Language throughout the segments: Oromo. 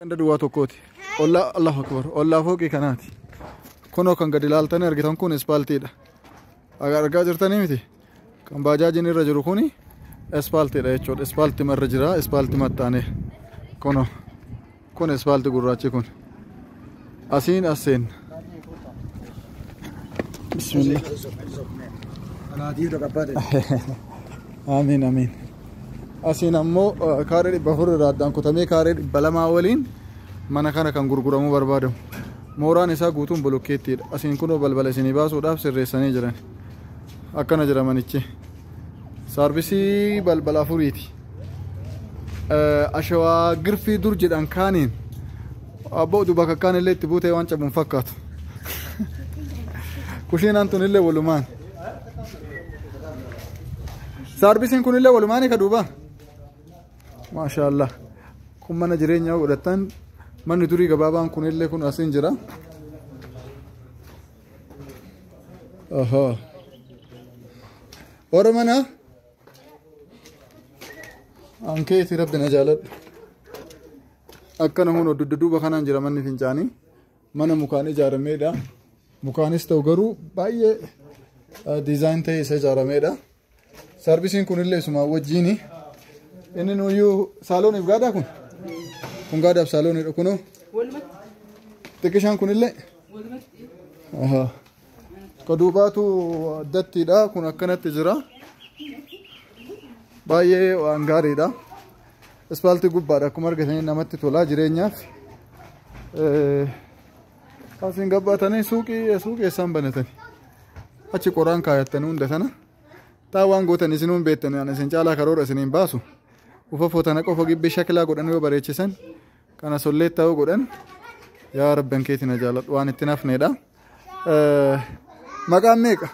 Ganda duwwaa tokkooti. Ollaa Allahu Akbar. Ollaa fooqii kanaati. Kunoo kan gadi ilaaltanii argitan kun ispaaltiidha. Aga argaa jirtanii miti. Kan baajaajiin irra jiru kuni ispaaltiidha jechuudha. Ispaaltima irra jira. Ispaaltima taane. Kunoo. Kun ispaalti gurraachi kun. Asiin as seenna. Bismillah. Amiin amiin. Asiin ammoo eh, kaaree dhibba afur irraa addaan kutamee kaaree dhibba lamaa waliin mana kana kan gurguramuu barbaadamu. Mooraan isaa guutuun bolokkeettiidha. Asiin kunoo balbala isinii baasuudhaaf sirreessanii jiran. Akkana jira manichi. Saarvisii balbala afuriiti. Ashawaa girfii dur jedhan kaaniin abboo duuba kakkaan illee itti buutee waan cabuun fakkaatu. Kushiinaan tun illee walumaan. Saarvisiin kun illee walumaan ka duuba. Maashaallah. Kun mana jireenyaa godhatan manni durii gabaabaan kun illee kun asiin jira. Oho. Warra mana ankeeti rabbi na jaaladhu. Akka namoonni oddu dudduuba kanaan jira manni fincaanii mana mukaan ijaarameedha. Mukaanis ta'u garuu baay'ee diizaayin ta'ee isa ijaarameedha. Sarvisiin kunillee isumaa wajjiini. Inni nuyyuu saalooniif gaadaa kun? Kun gaadaaf saalooniidha kunoo. Xiqqishaan kunillee? Ahaa. Ka duubaatu addattiidha kun akkanatti jira. Baay'ee waan gaariidha. Ispaaltii gubbaadha akkuma argitanii namatti tolaa jireenyaaf. Eh, Asiin gabbaatanii suuqii suuqii isaan banatanii achi qoraan kaayatanii hunda sana taa waan gootan isin hin beektan ani isin caalaa karoora isin hin baasu ufa footana qofa gibbii shakilaa godhan yoo bareechisan kana sollee ta'uu godhan yaa rabban keetiin na jaaladhu waan itti nafneedha. Maqaan meeqa?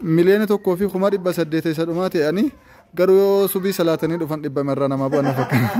miliyoona tokkoo fi kuma dhibba saddeet isa dhumaa ta'anii garuu yoo subii salaatanii dhufan dhibba irraa namaa bu'an fakkaata.